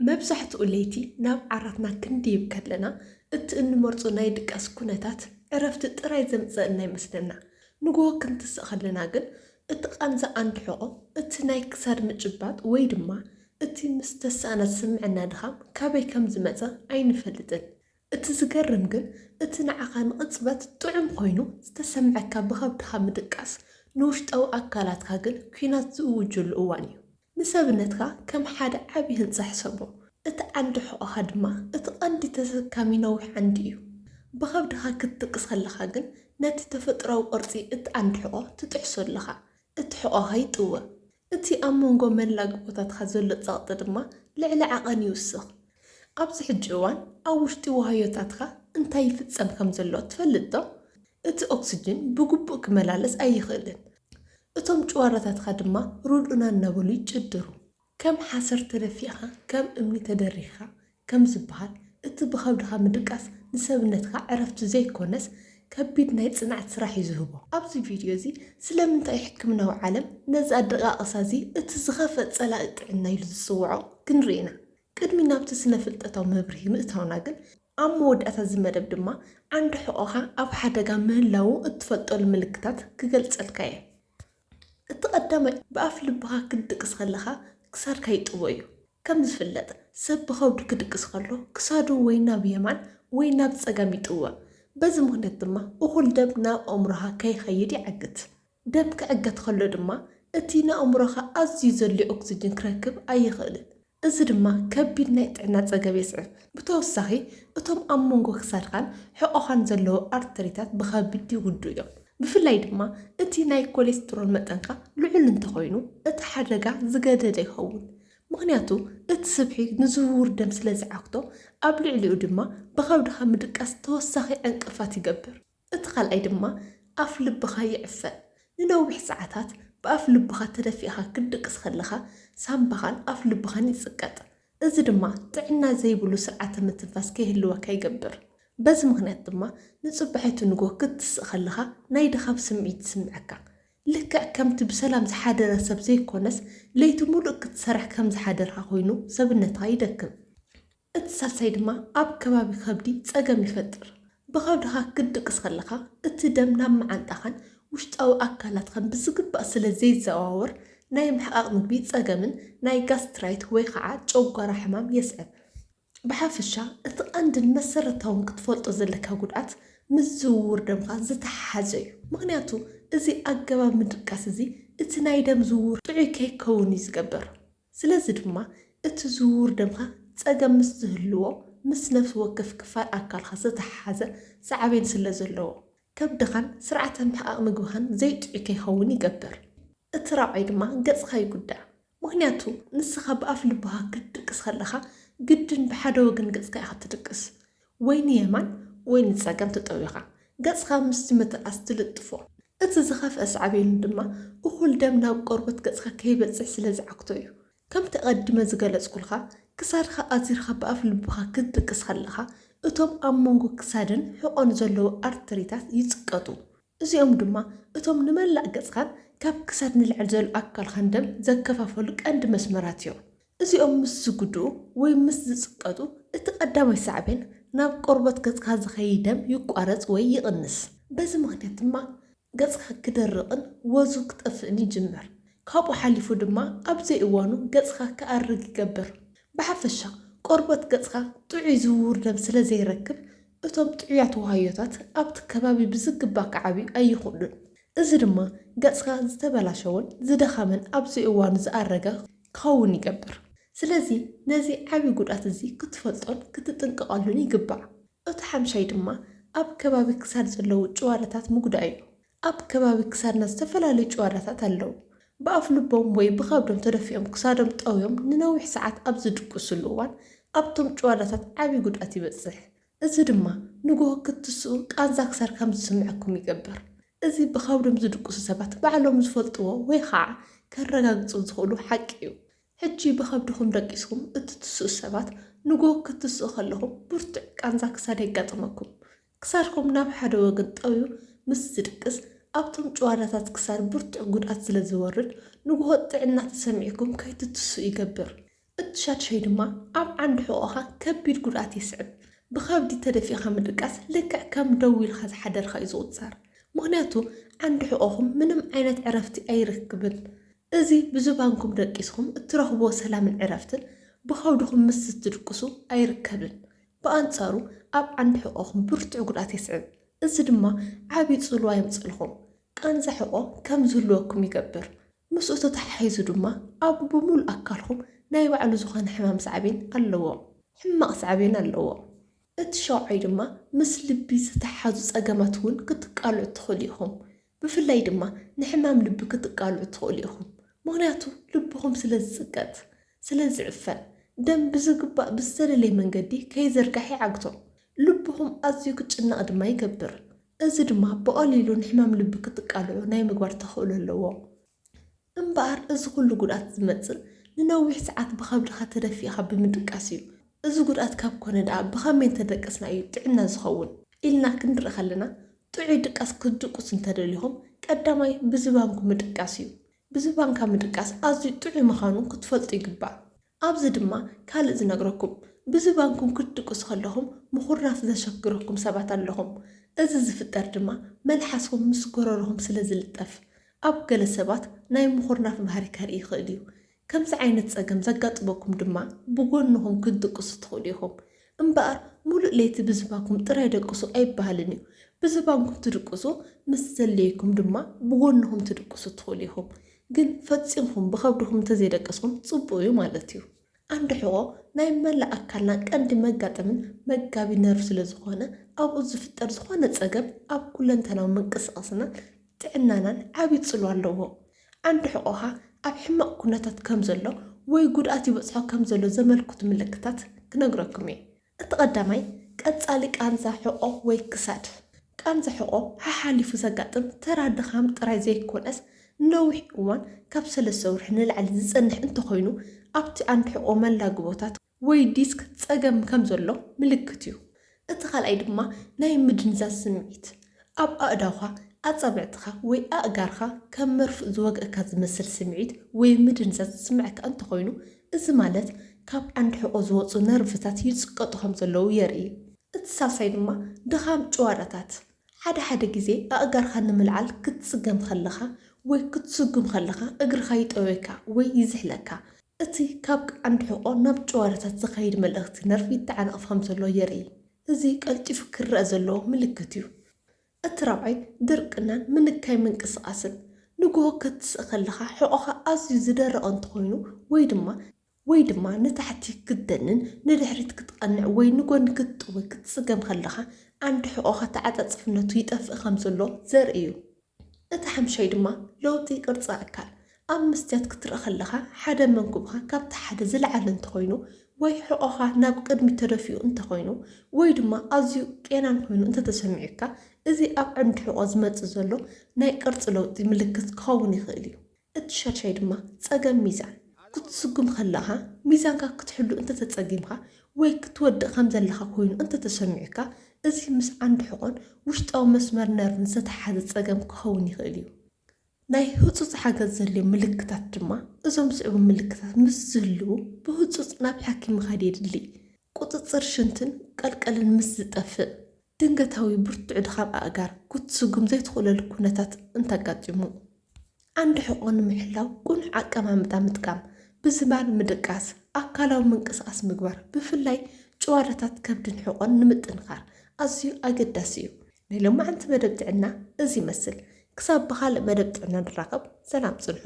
መብዛሕትኡ ለይቲ ናብ ዓራትና ክንድይብ ከለና እቲ እንመርጾ ናይ ድቃስ ኵነታት ዕረፍቲ ጥራይ ዘምጽኣልና ይመስለና። ንግሆ ክንትስእ ከለና ግን እቲ ቃንዛ ኣንድሕቖ፣ እቲ ናይ ክሳድ ምጭባጥ ወይ ድማ እቲ ምስ ተሳእና ዝስምዐና ድኻም ካበይ ከም ዝመጸ ኣይንፈልጥን። እቲ ዝገርም ግን እቲ ንዓኻ ንቕጽበት ጥዑም ኰይኑ ዝተሰምዐካ ብኸብድኻ ምድቃስ ንውሽጣዊ ኣካላትካ ግን ኲናት ዝእውጀሉ እዋን እዩ። ንሰብነትካ ከም ሓደ ዓቢ ህንጻ ሕሰቦ፣ እቲ ዓንዲ ሕቖኻ ድማ እቲ ቀንዲ ተሰካሚ ነዊሕ ዓንዲ እዩ። ብኸብድኻ ክትድቅስ ከለኻ ግን ነቲ ተፈጥሮኣዊ ቅርጺ እቲ ዓንዲ ሕቖ ትጥሕሶ ኣለኻ፣ እቲ ሕቖኻ ይጥውቕ። እቲ ኣብ መንጎ መላግቦታትካ ዘሎ ጸቕጢ ድማ ልዕሊ ዓቐን ይውስኽ። ኣብዚ ሕጂ እዋን ኣብ ውሽጢ ዋህዮታትካ እንታይ ይፍጸም ከም ዘሎ ትፈልጥ ዶ? እቲ ኦክስጅን ብግቡእ ክመላለስ ኣይኽእልን። እቶም ጭዋዳታትካ ድማ ርድኡና እናበሉ ይጭድሩ። ከም ሓሰር ተደፊእኻ ከም እምኒ ተደሪኽኻ ከም ዝበሃል፣ እቲ ብኸብድኻ ምድቃስ ንሰብነትካ ዕረፍቲ ዘይኰነስ ከቢድ ናይ ጽንዓት ስራሕ እዩ ዝህቦ። ኣብዚ ቪድዮ እዚ፣ ስለምንታይ እዩ ሕክምናዊ ዓለም ነዚ ኣደቓቕሳ እዚ እቲ ዝኸፍኣ ጸላኢ ጥዕና ኢሉ ዝጽውዖ ክንርኢ ኢና። ቅድሚ ናብቲ ስነ-ፍልጠታዊ መብርሂ ምእታውና ግን፣ ኣብ መወዳእታ እዚ መደብ ድማ ዓንዲ ሕቖኻ ኣብ ሓደጋ ምህላዉ እትፈልጠሉ ምልክታት ክገልጸልካ እየ። እቲ ቀዳማይ ብኣፍ ልብኻ ክትድቅስ ከለኻ ክሳድካ ይጥቦ እዩ። ከም ዝፍለጥ ሰብ ብኸብዱ ክድቅስ ከሎ ክሳዱ ወይ ናብ የማን ወይ ናብ ጸጋም ይጥወ። በዚ ምኽንያት ድማ እኹል ደም ናብ ኣእምሮኻ ከይኸይድ ይዓግት። ደም ክዕገት ኸሎ ድማ እቲ ንኣእምሮኻ ኣዝዩ ዘድልዮ ኦክስጅን ክረክብ ኣይኽእልን፣ እዚ ድማ ከቢድ ናይ ጥዕና ጸገብ የስዕብ። ብተወሳኺ እቶም ኣብ መንጎ ክሳድካን ሕቖኻን ዘለዉ ኣርተሪታት ብኸቢድ ይጉድኡ እዮም፣ ብፍላይ ድማ እቲ ናይ ኮሌስትሮል መጠንካ ልዑል እንተኾይኑ እቲ ሓደጋ ዝገደደ ይኸውን፣ ምኽንያቱ እቲ ስብሒ ንዝውውር ደም ስለዝዓግቶ ኣብ ልዕሊኡ ድማ ብኸብድኻ ምድቃስ ተወሳኺ ዕንቅፋት ይገብር። እቲ ካልኣይ ድማ ኣፍ ልብኻ ይዕፈን። ንነዊሕ ሰዓታት ብኣፍ ልብኻ ተደፊእኻ ክትድቅስ ከለኻ ሳምባኻን ኣፍ ልብኻን ይጽቀጥ። እዚ ድማ ጥዕና ዘይብሉ ስርዓተ ምትንፋስ ከይህልወካ ይገብር። በዚ ምኽንያት ድማ ንጽባሒቱ ንግሆ ክትስእ ከለኻ ናይ ድኻም ስምዒት ይስምዐካ። ልክዕ ከምቲ ብሰላም ዝሓደረ ሰብ ዘይኮነስ ለይቲ ምሉእ ክትሰርሕ ከም ዝሓደርካ ኮይኑ ሰብነትኻ ይደክም። እቲ ሳልሳይ ድማ ኣብ ከባቢ ከብዲ ጸገም ይፈጥር። ብኸብድኻ ክትድቅስ ከለኻ እቲ ደም ናብ መዓንጣኻን ውሽጣዊ ኣካላትካን ብዝግባእ ስለ ዘይዘዋወር ናይ ምሕቓቕ ምግቢ ጸገምን ናይ ጋስትራይት ወይ ኸዓ ጨጓራ ሕማም የስዕብ። ብሓፈሻ እቲ ቀንድን መሰረታውን ክትፈልጦ ዘለካ ጉድኣት ምስ ዝውውር ደምካ ዝተሓሓዘ እዩ። ምኽንያቱ እዚ ኣገባብ ምድቃስ እዚ እቲ ናይ ደም ዝውውር ጥዑይ ከይከውን እዩ ዝገብር። ስለዚ ድማ እቲ ዝውውር ደምካ ጸገም ምስ ዝህልዎ ምስ ነፍሲ ወከፍ ክፋል ኣካልካ ዝተሓሓዘ ሳዕቤን ስለ ዘለዎ ከብድኻን ስርዓተ ምሕቓቕ ምግብኻን ዘይጥዑይ ከይኸውን ይገብር። እቲ ራብዓይ ድማ ገጽካ ይጉዳእ። ምኽንያቱ ንስኻ ብኣፍ ልብኻ ክትድቅስ ከለኻ ግድን ብሓደ ወገን ገጽካ ኢኻ ትድቅስ። ወይ ንየማን ወይ ንጸጋም ተጠዊኻ ገጽካ ምስቲ መተርኣስ ትልጥፎ። እቲ ዝኸፍኣ ሳዕቤኑ ድማ እኹል ደም ናብ ቆርበት ገጽካ ከይበጽሕ ስለ ዝዓግቶ እዩ። ከምቲ ኣቐዲመ ዝገለጽኩልካ፣ ክሳድካ ኣዚርካ ብኣፍ ልብኻ ክትድቅስ ከለኻ፣ እቶም ኣብ መንጎ ክሳድን ሕቖን ዘለዉ ኣርተሪታት ይጽቀጡ። እዚኦም ድማ እቶም ንመላእ ገጽካን ካብ ክሳድ ንላዕሊ ዘሎ ኣካልካን ደም ዘከፋፈሉ ቀንዲ መስመራት እዮም። እዚኦም ምስ ዝጉድኡ ወይ ምስ ዝጽቀጡ እቲ ቀዳማይ ሳዕቤን ናብ ቆርበት ገጽካ ዝኸይድ ደም ይቋረጽ ወይ ይቕንስ። በዚ ምኽንያት ድማ ገጽካ ክደርቕን ወዙ ክጠፍእን ይጅምር። ካብኡ ሓሊፉ ድማ ኣብ ዘይእዋኑ ገጽካ ክኣርግ ይገብር። ብሓፈሻ ቆርበት ገጽካ ጥዑይ ዝውውር ደም ስለ ዘይረክብ፣ እቶም ጥዑያት ዋህዮታት ኣብቲ ከባቢ ብዝግባእ ክዓብዩ ኣይኽእሉን። እዚ ድማ ገጽካ ዝተበላሸወን ዝደኸመን ኣብ ዘይእዋኑ ዝኣረገ ክኸውን ይገብር። ስለዚ ነዚ ዓቢ ጉድኣት እዚ ክትፈልጦን ክትጥንቀቐሉን ይግባእ። እቲ ሓምሻይ ድማ ኣብ ከባቢ ክሳድ ዘለዉ ጭዋዳታት ምጉዳእ እዩ። ኣብ ከባቢ ክሳድና ዝተፈላለዩ ጭዋዳታት ኣለዉ። ብኣፍልቦም ወይ ብኸብዶም ተደፊኦም ክሳዶም ጠውዮም ንነዊሕ ሰዓት ኣብ ዝድቅሱሉ እዋን ኣብቶም ጭዋዳታት ዓቢ ጉድኣት ይበጽሕ። እዚ ድማ ንጎሆ ክትስኡ ቃንዛ ክሳድ ከም ዝስምዐኩም ይገብር። እዚ ብኸብዶም ዝድቅሱ ሰባት ባዕሎም ዝፈልጥዎ ወይ ኸኣ ከረጋግጹ ዝኽእሉ ሓቂ'ዩ። ሕጂ ብኸብድኹም ደቂስኩም እትትስኡ ሰባት ንጎሆ ክትስኡ ከለኹም ብርቱዕ ቃንዛ ክሳድ የጋጥመኩም። ክሳድኩም ናብ ሓደ ወገን ጠውዩ ምስ ዝድቅስ፣ ኣብቶም ጭዋዳታት ክሳድ ብርቱዕ ጉድኣት ስለ ዝወርድ፣ ንጉሆ ጥዕና ተሰሚዕኩም ከይትትስኡ ይገብር። እቲ ሻድሻይ ድማ ኣብ ዓንዲ ሕቖኻ ከቢድ ጉድኣት የስዕብ። ብኸብዲ ተደፊእካ ምድቃስ ልክዕ ከም ደው ኢልካ ዝሓደርካ'ዩ ዝቑጸር። ምኽንያቱ ዓንዲ ሕቖኹም ምንም ዓይነት ዕረፍቲ ኣይረክብን። እዚ ብዝባንኩም ደቂስኩም እትረኽብዎ ሰላምን ዕረፍትን፣ ብኸብድኹም ምስ ዝትድቅሱ ኣይርከብን። ብኣንጻሩ ኣብ ዓንዲ ሕቖኹም ብርቱዕ ጉድኣት የስዕብ፣ እዚ ድማ ዓቢ ጽልዋ የምጽእልኩም፣ ቃንዛ ሕቖ ከም ዝህልወኩም ይገብር፣ ምስኡ ተተሓሒዙ ድማ ኣብ ብምሉእ ኣካልኩም ናይ ባዕሉ ዝኾነ ሕማም ሳዕቤን ኣለዎ፣ ሕማቕ ሳዕቤን ኣለዎ። እቲ ሻውዓይ ድማ ምስ ልቢ ዝተሓሓዙ ጸገማት እውን ክትቃልዑ ትኽእሉ ኢኹም፣ ብፍላይ ድማ ንሕማም ልቢ ክትቃልዑ ትኽእሉ ኢኹም፣ ምኽንያቱ ልብኹም ስለ ዝጽቀጥ፣ ስለ ዝዕፈን፣ ደም ብዝግባእ ብዝተደለየ መንገዲ ከይዘርጋሕ ይዓግቶ። ልብኹም ኣዝዩ ክጭነቕ ድማ ይገብር፣ እዚ ድማ ብቐሊሉ ንሕማም ልቢ ክትቃልዑ ናይ ምግባር ተኽእሎ ኣለዎ። እምበኣር እዚ ዅሉ ጕድኣት ዚመጽእ፣ ንነዊሕ ሰዓት ብኸብድኻ ተደፊእካ ብምድቃስ እዩ። እዚ ጕድኣት ካብ ኰነ ደኣ ብኸመይ እንተ ደቀስና እዩ ጥዕና ዚኸውን? ኢልና ክንርኢ ኸለና፣ ጥዑይ ድቃስ ክትድቅሱ እንተ ደሊኹም፣ ቀዳማይ ብዝባንኩ ምድቃስ እዩ። ብዝባንካ ምድቃስ ኣዝዩ ጥዑይ ምዃኑ ክትፈልጡ ይግባእ። ኣብዚ ድማ ካልእ ዝነግረኩም፣ ብዝባንኩም ክትድቅሱ ከለኹም ምኹራፍ ዘሸግረኩም ሰባት ኣለኹም። እዚ ዝፍጠር ድማ መልሓስኹም ምስ ጎረሮኹም ስለ ዝልጠፍ። ኣብ ገለ ሰባት ናይ ምኹርናፍ ባህሪ ከርኢ ይኽእል'ዩ። ከምዚ ዓይነት ጸገም ዘጋጥመኩም ድማ ብጎንኹም ክትድቅሱ ትኽእሉ ኢኹም። እምበኣር ሙሉእ ለይቲ ብዝባንኩም ጥራይ ደቅሱ ኣይበሃልን እዩ። ብዝባንኩም ትድቅሱ ምስ ዘድልየኩም ድማ ብጎንኹም ትድቅሱ ትኽእሉ ኢኹም። ግን ፈጺምኩም ብኸብድኹም እንተዘይደቀስኩም ጽቡቕ እዩ ማለት እዩ። ዓንዲ ሕቖ ናይ መላእ ኣካልና ቀንዲ መጋጠምን መጋቢ ነርቭ ስለዝኾነ ኣብኡ ዝፍጠር ዝኾነ ጸገም ኣብ ኩለንተናዊ ምንቅስቓስናን ጥዕናናን ዓቢ ጽልዋ ኣለዎ። ዓንዲ ሕቖኻ ኣብ ሕማቕ ኩነታት ከም ዘሎ ወይ ጉድኣት ይበጽሖ ከም ዘሎ ዘመልክቱ ምልክታት ክነግረኩም እየ። እቲ ቀዳማይ፣ ቀጻሊ ቃንዛ ሕቖ ወይ ክሳድ። ቃንዛ ሕቖ ሓሓሊፉ ዘጋጥም ተራ ድኻም ጥራይ ዘይኮነስ፣ ንነዊሕ እዋን፣ ካብ ሰለስተ ወርሒ ንላዕሊ፣ ዝጸንሕ እንተኾይኑ፣ ኣብቲ ዓንዲ ሕቖ መላግቦታት፣ ወይ ዲስክ ጸገም ከም ዘሎ ምልክት እዩ። እቲ ካልኣይ ድማ ናይ ምድንዛዝ ስምዒት፣ ኣብ ኣእዳውካ፣ ኣጻብዕትኻ ወይ ኣእጋርካ ከም መርፍእ ዝወግኣካ ዝመስል ስምዒት ወይ ምድንዛዝ ዝስምዓካ እንተኾይኑ፣ እዚ ማለት ካብ ዓንዲ ሕቖ ዝወጹ ነርቭታት ይጽቀጡ ከም ዘለዉ የርኢ። እቲ ሳልሳይ ድማ ድኻም ጭዋዳታት፣ ሓደ ሓደ ግዜ ኣእጋርካ ንምልዓል ክትጽገም ከለኻ ወይ ክትስጉም ከለኻ እግርኻ ይጠውየካ ወይ ይዝሕለካ፣ እቲ ካብ ቀንዲ ሕቖ ናብ ጭዋዳታት ዝኸይድ መልእኽቲ ነርቭ ይተዓናቐፍ ከም ዘሎ የርኢ። እዚ ቀልጢፉ ክርኣ ዘለዎ ምልክት እዩ። እቲ ራብዓይ ድርቅናን ምንካይ ምንቅስቓስን፣ ንግሆ ከትስእ ከለኻ ሕቖኻ ኣዝዩ ዝደረቐ እንተኾይኑ ወይ ድማ፣ ወይ ድማ ንታሕቲ ክትደንን ንድሕሪት ክትቐንዕ ወይ ንጎኒ ክትጥውይ ክትጽገም ከለኻ ዓንዲ ሕቖኻ ተዓጻጻፍነቱ ይጠፍእ ከም ዘሎ ዘርኢ እዩ። እቲ ሓምሻይ ድማ ለውጢ ቅርጺ ኣካል፣ ኣብ መስትያት ክትረኣ ከለኻ ሓደ መንኩብኻ ካብቲ ሓደ ዝለዓለ እንተኾይኑ ወይ ሕቖኻ ናብ ቅድሚት ተደፊኡ እንተኾይኑ ወይ ድማ ኣዝዩ ቄናን ኮይኑ እንተተሰሚዑካ እዚ ኣብ ዓንዲ ሕቖ ዝመጽእ ዘሎ ናይ ቅርጺ ለውጢ ምልክት ክኸውን ይኽእል እዩ። እቲ ሻድሻይ ድማ ጸገም ሚዛን፣ ክትስጉም ከለኻ ሚዛንካ ክትሕሉ እንተተጸጊምካ ወይ ክትወድቕ ከም ዘለኻ ኮይኑ እንተተሰሚዑካ፣ እዚ ምስ ዓንዲ ሕቖን ውሽጣዊ መስመር ነርቭን ዝተተሓሓዘ ጸገም ክኸውን ይኽእል እዩ። ናይ ህጹጽ ሓገዝ ዘድልዮም ምልክታት ድማ እዞም ዝስዕቡ ምልክታት ምስ ዝህልዉ ብህጹጽ ናብ ሓኪም ምኻድ የድሊ፣ ቁጽጽር ሽንትን ቀልቀልን ምስ ዝጠፍእ፣ ድንገታዊ ብርቱዕ ድኻም ኣእጋር ክትስጉም ዘይትኽእለሉ ኩነታት እንተኣጋጢሙ፣ ዓንዲ ሕቖ ንምሕላው ቅኑዕ ኣቀማምጣ ምጥቃም፣ ብዝማን ምድቃስ፣ ኣካላዊ ምንቅስቓስ ምግባር፣ ብፍላይ ጭዋዳታት ከብድን ሕቖን ንምጥንኻር ኣዝዩ ኣገዳሲ እዩ። ናይ ሎማዕንቲ መደብ ጥዕና እዚ ይመስል። ክሳብ ብኻልእ መደብ ጥዕና ንራኸብ፣ ሰላም ጽንሑ።